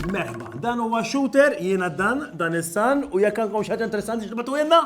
Merħba, dan huwa shooter, jiena dan, dan is-san, u jekk għandkom xi ħaġa interessanti x'tibgħatulna?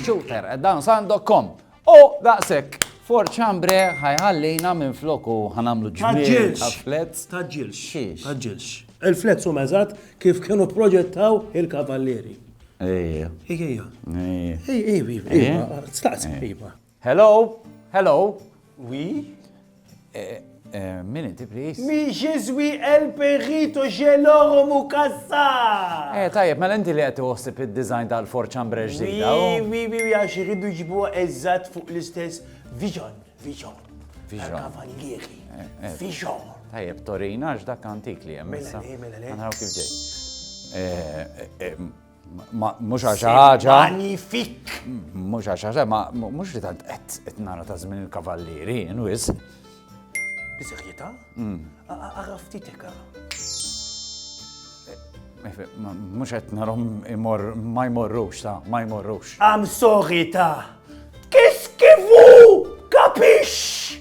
Shooter, dan san.com. O, daqshekk! For chambre ħajħallina minflok u ħanagħmlu ġmiel ta' flets. Taġġilx. Xiex? Taġġilx. Il-flets huma eżatt kif kienu proġettaw il-kavallieri. Ejja. Ejja. Ejja. Ejja. Staqsi. Hello? Hello? Wi? Min inti please? Mi je suis el perito geloro mukassa! Eh, tajjeb, mela inti li qed iħossib id-design tal-forċambre ġdida. Wi, wi, wi, għax irridu ġibuha eżatt fuq l-istess vision, vision. Vision. Kavallieri. Eh, eh. Vision. Tajjeb, Torina, għax dak antik li hemm. Mela, mela, mela. Naraw kif ġej. Eh, Mhux għax ħaġa. Magnifik! Mhux għax ħaġa, ma mhux li tant qed nara ta' żmien il-kavallieri, inwis. Biżejjeta? Mm. Ara ftitek ara. Mhux qed narhom imor ma jmorrux ta' ma jmorrux. Am sorry ta' kif kifu kapix!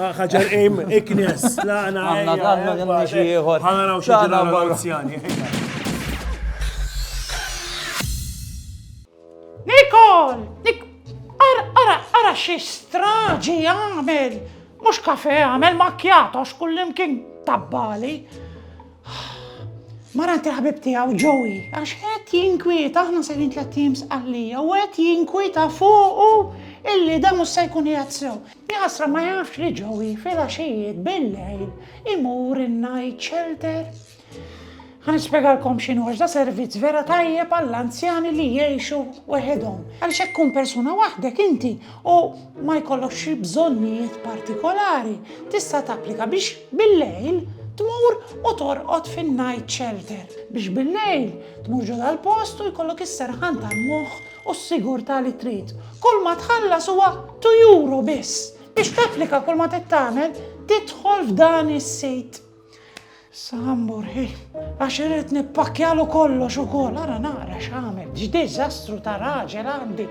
Ħaġar im, iknes, laqna. Għanna, għanna, għanna xieħor. Għanna raw xieħor għal-anzjani. Nikol, nik, ara, ara, ara xie straġi għamel. Mux kafe għamel makjato, xkullim kien tabbali. Mara ti ħabib tijaw ġowi, għax għet jinkwieta, aħna sejrin tlet teams għallija, u għet jinkwieta fuqu illi da mus se jkun jgħadsew. Jaħasra ma jafx li Joey filgħaxijiet billejl imur in-night shelter? Ħa nispjegalkom x'inhu għax da servizz vera tajjeb għall-anzjani li jgħixu weħidhom. Għaliex hekk tkun persuna waħdek inti u ma jkollokx xi bżonnijiet partikolari, tista' tapplika biex billejl tmur u torqod fin-night shelter. Biex billejl tmur ġo dal-post u jkollok is-serħan tal-moħħ U s-sigurtà li trid. Kull ma tħallas huwa two euro biss. Biex tapplika kull ma trid tagħmel, tidħol f'dan is-sit. Issa ħamburħi, għax irrid nippakkjalu kollox ukoll, ara nara x'għamel, x'diżastru ta' raġel għandi.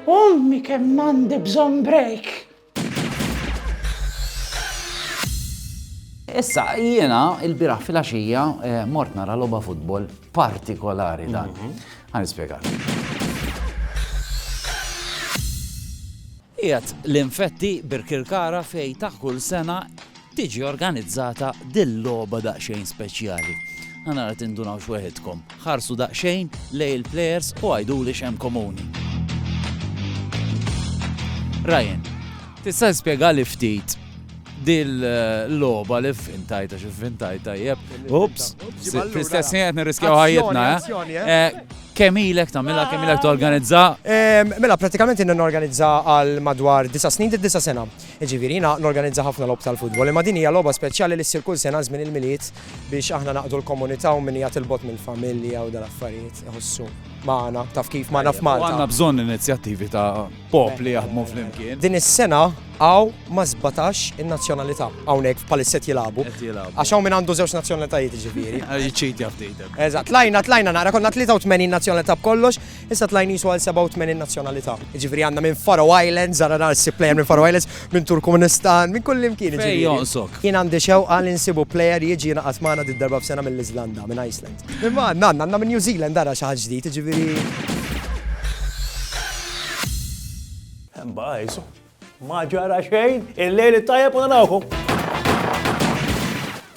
Ummi kemm għandi bżonn break. Issa, jiena il-biraħ fil-axija eh, mort nara loba futbol partikolari dan. Mhm. Għan ispiegat. Ijat l-infetti Birkirkara fej taħ kull sena Tiġi organizzata dil logħba daqsxejn speċjali. Ħa nara tindunawx weħidkom. Ħarsu daqsxejn lejn il players u għiduli x'hemm komuni. Ryan, tista' tispjegali ftit dil logħba li fvintajt għax fvintajt tajjeb. Ups, fl-istess ħin qed nirriskjaw ħajjitna. Eh? Eh? Eh, kemm ilek tagħmilha, kemm ilek torganizza? Mela prattikament inna norganizza għal madwar disa' snin, disa' sena. Jiġifieri jiena norganizza ħafna logħob tal-futbol, imma din hija logħba speċjali li ssir kull sena żmien il-Milied biex aħna naqdu l-komunità u min qiegħed 'il bogħod mill-familja u dal-affarijiet iħossu magħna, taf kif, magħna f'Malta. U għandna bżonn inizjattivi ta' popli jaħdmu flimkien. Din is-sena hawn ma' sbatax in-nazzjonalità hawnhekk bħalissa qed jilagħbu. Qed jilagħbu. Għax hawn min għandu żewġ nazzjonalitajiet jiġifieri. Jiċċitja ftit. Eżatt, tlajna tlajna nara konna 83 nazzjonalità b'kollox, Issa tlaj nisu għal 87 nazzjonalità. Ġifiri għanna minn Faro Islands, għanna narsi player minn Faro Islands, minn Turkmenistan, minn kullim kien. Fej jonqsok. Jien għandi xew għal insibu player jieġi jina għatmana di darba f'sena mill izlanda minn Iceland. Minn ma għanna, għanna minn New Zealand għara xaħġ ġdijt, ġifiri. Mbajzu, ma ġara xejn, il-lejli tajja puna nawħu.